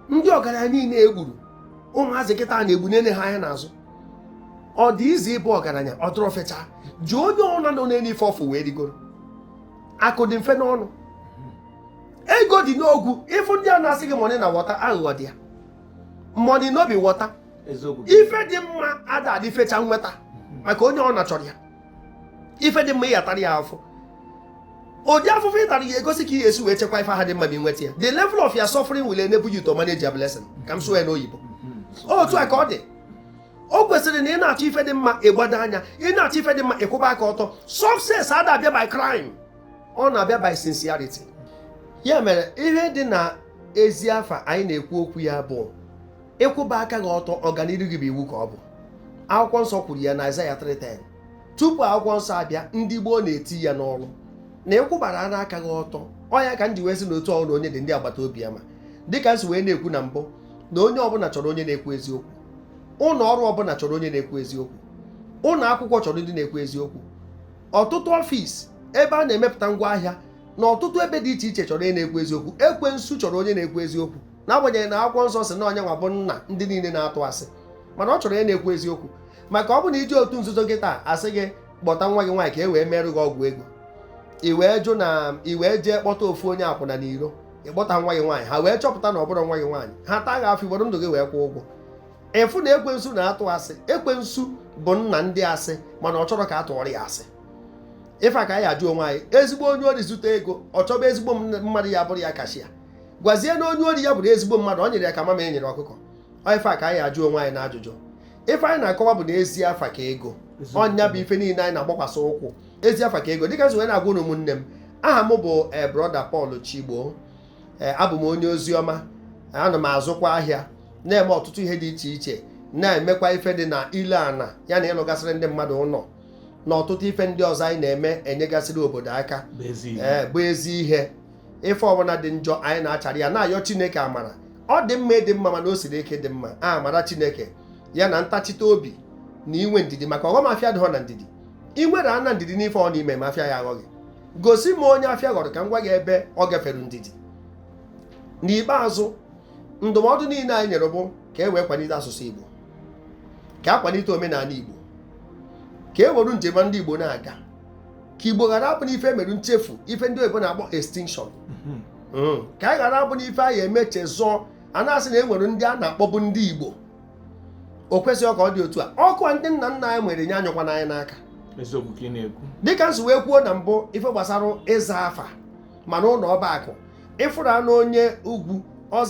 ndị ọgaranya niile egburu ụmụazị kịta a na-egbu nene ha anya n'azụ ọ dị easy ịbụ ọgaranya ọ dịrọ fecha jụọ onye ọbụna nọ n'elu ife ọ fụ wee rigoro akụ dị mfe n'ọnụ ego dị n'ogwu ị fụ ndị a na-asị gị money na water aghụghọ dị ya money no be water ife dị mma ada adị fecha nweta maka onye ọbụna chọrọ ya ife dị mma ị ya-atara ya afụfụ ụdị afụfụ ị tara ya-egosi ka ị ga-esi wee chekwa ife ha dị mma ma i nweta ya the level of your suffering will enable you to manage your blessing ka m sụọ ya n'oyibo otu a ka ọ dị o kwesịrị na ị na-achọ ife dị mma ị gbado anya ị na-achọ ife dị mma ị kwụba aka ọtọ success ada abịa by crime ọ na-abịa by sincerity ya mere ihe dị na ezi afa anyị na-ekwu okwu ya bụ ị kwụba aka gị ọtọ ọganiru gị bụ iwu ka ọ bụ akwụkwọ nsọ kwuru ya na Aịzaya 3:10 tupu akwụkwọ nsọ abịa ndị gboo na-eti ya n'ọrụ na ị kwụbara ana aka gị ọtọ ọ ya ka m ji wee sị na otu ọrụ onye dị ndị agbata obi ya ma dịka m si wee na-ekwu na mbụ na onye ọbụla chọrọ onye na-ekwu eziokwu ụlọ ọrụ ọbụla chọrọ onye na-ekwu eziokwu ụlọ akwụkwọ chọrọ ndị na-ekwu eziokwu ọtụtụ ọfịs ebe a na-emepụta ngwa ahịa na ọtụtụ ebe dị iche iche chọrọ onye na-ekwu eziokwu ekwensu chọrọ onye na-ekwu eziokwu n'agbanyeghị na akwụkwọ nsọ sị na ọ ya nwa bụ nna ndị niile na-atụ asị mana ọ chọrọ onye na-ekwu eziokwu maka ọ bụ na i je otu nzuzo kịta a a sị gị kpọta nwa gị nwaanyị ka e wee merụ gị ọgwụ ego i wee jụ na i wee jee kpọta ofu onye akwụna n'iro ịkpọta nwa gị nwaanyị ha wee chọpụta na ọ bụrọ nwa gị nwaanyị ha taa gị afụfụ i were ndụ gị wee kwụọ ụgwọ ị fụ na ekwensu na-atụ asị ekwensu bụ nna ndị asị mana ọ chọrọ ka a tụọrọ ya asị ife a ka anyị ajụ onwe anyị ezigbo onye ori zute ego ọ chọba ezigbo mmadụ ya-abụrụ ya cashier gwazie na onye ori ya bụrụ ezigbo mmadụ ọ nyere ya ka mama e nyere ọkụkọ ife a ka anyị ajụ onwe anyị na ajụjụ ife anyị na-akọwa bụ na ezi afa ka ego ọ ya bụ ife niile anyị na-agbakwasị ụkwụ ezi afa ka ego dịka m si wee na-agwa unu ụmụnne m aha m bụ eh, brọda Paul Chigbo eh, abụ m onye ozi ọma ana m azụkwa ahịa na-eme ọtụtụ ihe dị iche iche na-emekwa ife dị na ile ana ya na ịlụgasịrị ndị mmadụ ụlọ na ọtụtụ ife ndị ọzọ anyị na-eme enyegasịrị obodo aka bụ ezi eh, ihe ife ọbụla dị njọ anyị na-achara ya na-ayọ chineke amara ọ dị mma ịdị mma mana o siri ike ịdị mma amara chineke ya na ntachite obi na inwe ndidi maka ọghọm afịa dịghọ na ndidi ị nwere ana ndidi n'ife ọ na-eme ma afịa ya aghọghị gosi m onye afịa ghọrọ ka m gwa gị ebe ọ gafere ndidi n'ikpeazụ ndụmọdụ niile anyị nyere bụ ka e wee kwalite asụsụ Igbo ka a kwalite omenala Igbo ka e were njem ndị Igbo na-aga ka igbo ghara abụ n'ife mere nchefu ife ndị oyibo na-akpọ extinction ka anyị ghara abụ n'ife a ya-emechazi a na-asị na e nwere ndị a na-akpọbụ ndị igbo o kwesịghị ka ọ dị otu a ọkụ a ndị nna nna anyị nwere nye anyụkwana anyị n'aka dịka m si wee kwuo na mbụ ife gbasara ịza afa mana ụlọ ọba akụ ị fụrụ anụ onye ugwu ọza